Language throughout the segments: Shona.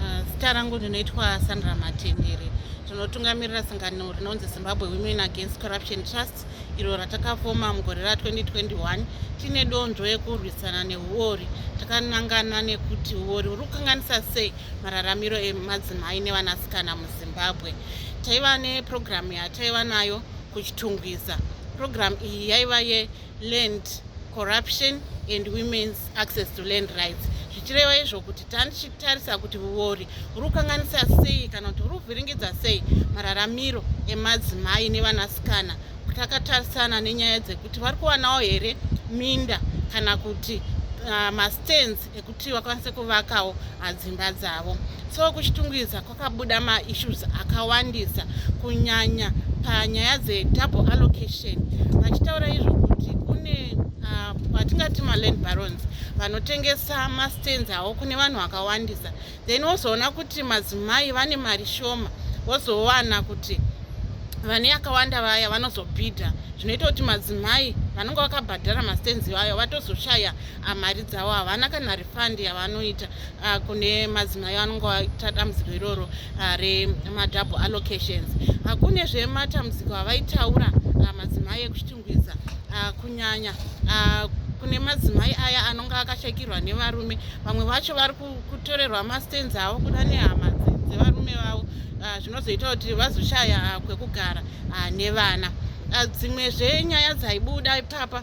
Ah, zita rangu ndinoitwa Sandra Matendere. Tinotungamirira sangano rinonzi Zimbabwe Women Against Corruption Trust iro ratakafoma mugore ra 2021 tine donzvo yekurwisana nehuori. Takanangana nekuti huori huri kukanganisa sei mararamiro emadzimai nevanasikana muZimbabwe. Taiva nepurogiramu yataiva nayo kuChitungwiza. Purogiramu iyi yaiva ye land corruption and women's access to land rights zvichireva izvo kuti tatichitarisa kuti vuori huri kukanganisa sei kana kuti huri kuvhiringidza sei mararamiro emadzimai nevanasikana takatarisana nenyaya dzekuti vari kuwanawo here minda kana kuti uh, mastands ekuti vakwanise kuvakawo ah, dzimba dzavo so kuchitungwiza Kwakabuda maissues akawandisa kunyanya panyaya dzedouble allocation vachitaura izvo kuti kune ah, vatingati uh, maland barons vanotengesa mastands awo kune vanhu vakawandisa then wozoona kuti madzimai vane mari shoma wozowana kuti vane yakawanda vaya vanozobhidha zvinoita kuti madzimai vanonga vakabhadhara mastands iwayo vatozoshaya ah, mari dzavo havana kana fund yavanoita uh, kune madzimai anonge vaita dambudziko iroro uh, remadouble allocations uh, kune zvematambudziko avaitaura uh, madzimai ekuchitungwiza uh, kunyanya uh, kune madzimai aya anonge akashakirwa nevarume vamwe vacho vari kutorerwa mastands avo kuda nehama dzevarume vavo uh, zvinozoita kuti vazoshaya uh, kwekugara uh, nevana uh, dzimwe zvenyaya dzaibuda ipapa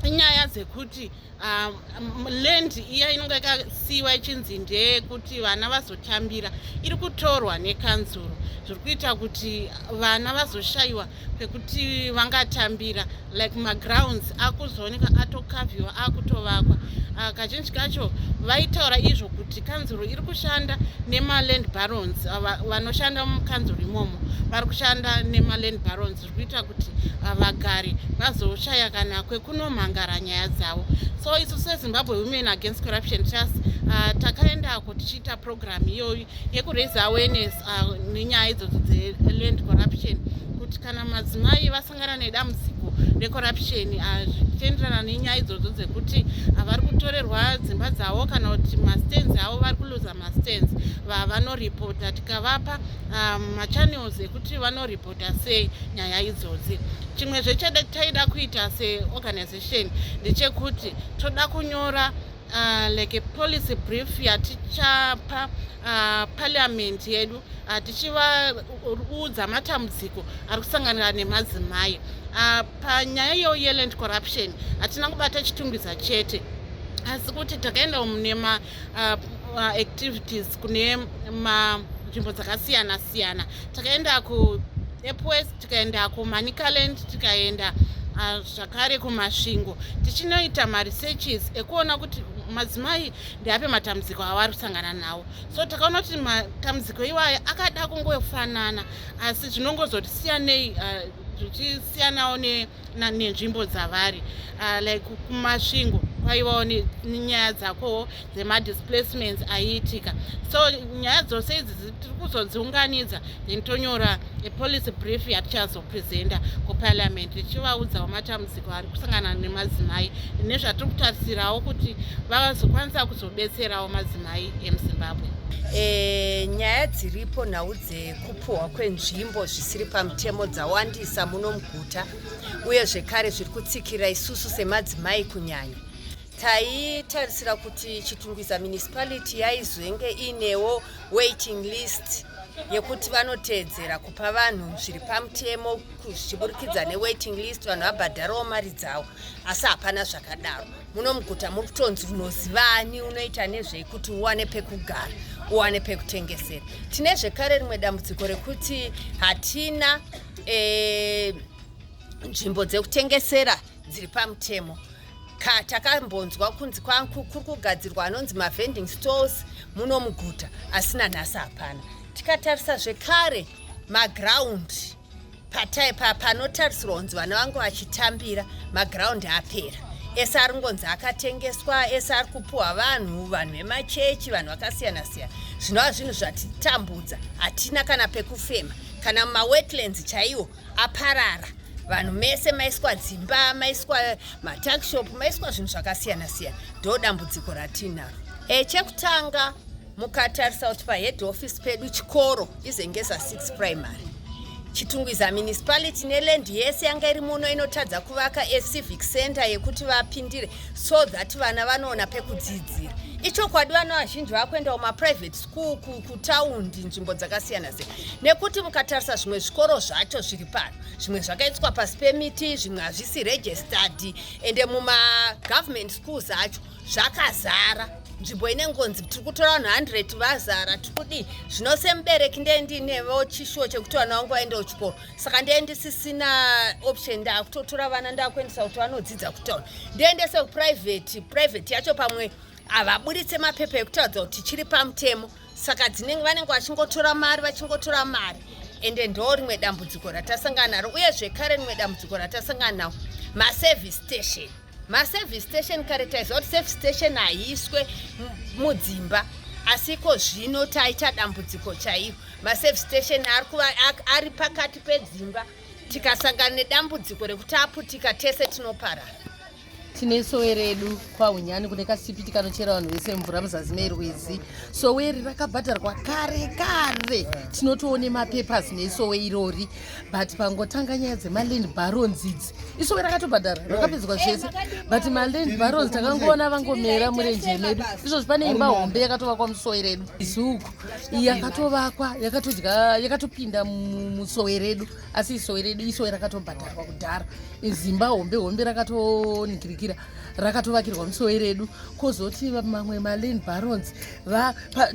inyaya dzekuti uh, um, land iya inonge yakasiiwa ichinzi ndeyekuti vana vazotambira iri kutorwa nekanzuro zviri kuita kuti vana vazoshayiwa pekuti vangatambira like magrounds akuzooneka atokavhiwa akutovakwa ah, kazhinji kacho vaitaura izvo kuti kanzuro iri kushanda nemaland barons ah, vanoshanda mukanzuro imomo vari kushanda nemaland barons kuita kuti vagari vazoshaya kana kwekunomhangara nyaya dzavo so isu sezimbabwe women against corruption trust uh, takaendako tichiita program iyoyi yekuraise awareness uh, nenyaya idzodzo dzeland corruption kuti kana madzimai vasangana nedambudziko recorruption uh, zvichienderana nenyaya idzodzo dzekuti uh, vari kutorerwa dzimba dzavo kana kuti mastands avo vari kuluza mastands vanoripota tikavapa um, machannels ekuti vanoripota kuita sei nyaya idzodzi chimwe zvechada taida kuita seorganization ndechekuti toda kunyora uh, like a policy brief yatichapa uh, parliament yedu uh, tichivaudza matambudziko ari kusanganira nemadzimai uh, panyaya yeoyeland corruption hatina kubata chitungwiza chete asi kuti takaenda mune uh, uh, activities kune manzvimbo dzakasiyana siyana takaenda ku epwest tikaenda kumanicaland tikaenda uh, zvakare kumasvingo tichinoita maresearches ekuona kuti madzimai ndeape matambudziko avari kusangana nawo so takaona kuti matambudziko iwayo akada kungofanana asi zvinongozotisiyanei uh, zvichisiyanawo ne nenzvimbo dzavari uh, like kumasvingo kwaivawo nenyaya dzakowo dzemadisplacements aiitika so nyaya dzose idzi tiri kuzodziunganidza then tonyora apolicy brief yatichazopresenta kuparliament tichivaudzawo matambudziko ari kusangana nemadzimai nezvatiri kutarisirawo kuti vazokwanisa kuzobetserawo madzimai emuzimbabwe E, nyaya dziripo nhau dzekupuhwa kwenzvimbo zvisiri pamutemo dzawandisa muno muguru maguta uye zvekare zviri kutsikira isusu semadzimai kunyanya taitarisira kuti chitungwiza municipality yaizenge inewo waiting list yekuti vanoteedzera kupa vanhu zviri pamutemo zvichiburikidza newaiting list vanhu vabhadharawo mari dzavo asi hapana zvakadaro muno muguta muri kutonzi unozivani unoita nezvei kuti uwane pekugara uwane pekutengesera tine zvekare rimwe dambudziko rekuti hatina eh, nzvimbo dzekutengesera dziri pamutemo ka takambonzwa kunzi kuri kugadzirwa anonzi mavending stores muno muguta asi nanhasi hapana tikatarisa zvekare magraundi pataipa panotarisirwa kunzi vana vangu vachitambira magraundi apera ese ari ngonzi akatengeswa ese ari kupuhwa vanhu vanhu vemachechi vanhu vakasiyana siyana zvinova zvinhu zvatitambudza hatina kana pekufema kana mumawetlands chaiwo aparara vanhu mese maiswa dzimba maiswa matakshop maiswa zvinhu zvakasiyana siyana ndo dambudziko ratiinaro e, chekutanga mukatarisa kuti pahead office pedu chikoro izengeza 6 primary chitungwiza municipality neland yese yanga iri muno inotadza kuvaka acivic center yekuti vapindire so that vana vanoona pekudzidzira ichokwadi vana vazhinji vakuenda kumaprivate kutaundi nzvimbo dzakasiyana siyana nekuti mukatarisa zvimwe zvikoro zvacho zviri pano zvimwe zvakaiswa pasi pemiti zvimwe hazvisi registered ende mumagovernment schools acho zvakazara nzvimbo inengonzi tiri kutora vanhu 100 vazara tiri kudii zvino semubereki ndee ndiinevo chishuwo chekuti vana vangu vaendewo chikoro saka ndee ndisisina option ndaakutotora vana ndaakuendesa kuti vanodzidza kutaura ndiendese kuprivate private yacho pamwe havaburitse mapepa ekutaridza kuti chiri pamutemo saka dzinenge vanenge vachingotora mari vachingotora mari ende ndo rimwe dambudziko ratasangana naro uye zvekare rimwe dambudziko ratasangana nawo maservice station maservice station kare taiziva kuti service station haiiswe mudzimba asi iko zvino taita dambudziko chaiyo maservice station ari pakati pedzimba tikasangana nedambudziko rekuti aputika tese tinoparara tine sowe redu kwahunyani kune kasipiti kanochera vanhu vese mvura muzasi merwizi sowe iri rakabhadharwa kare kare tinotoone mapapers nesowe irori but pangotanga nyaya dzemaland barons idzi isowe rakatobhadhara rakapedzwa zvese but maland barons takangoona vangomera murenje medu izvozvi pane imba hombe yakatovakwa musowe redu izuku yakatovakwa yakatodya yakatopinda musowe redu asi isowe redu isowe rakatobhadharwa kudhara izimba hombe hombe rakatonikirikira rakatovakirwa musowe redu kozoti mamwe malane barons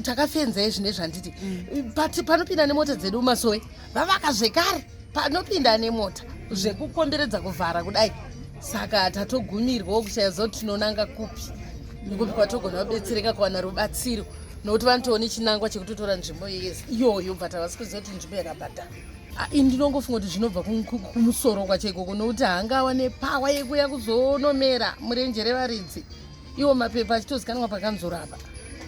takafenza izvi nezvanditi mm. panopinda nemota dzedu masowe vavaka zvekare panopinda nemota zvekukomberedza kuvhara kudai saka tatogumirwawo kushaya zoti tinonanga kupi nekupi kwatogona kubetsereka kuwana rubatsiro nokuti vanotoona chinangwa chekutotora nzvimbo yese iyoyo but havasi kuziva kuti nzvimbo yakabhadhara Ah, ini ndinongofunga kuti zvinobva kumusoro kwacho ikoko nokuti haangawa nepawa yekuya kuzonomera murenje revaridzi iwo mapepa achitozikanwa pakanzorapa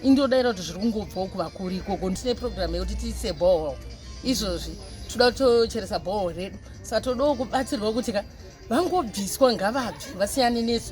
indodaira kuti zviri kungobvawo kuvakuri ikoko ndine programu yekuti tiise bhohol izvozvi toda kutocheresa bhohol redu saka todawo kubatsirwa kuti ka vangobviswa ngavabvi vasiyane nesu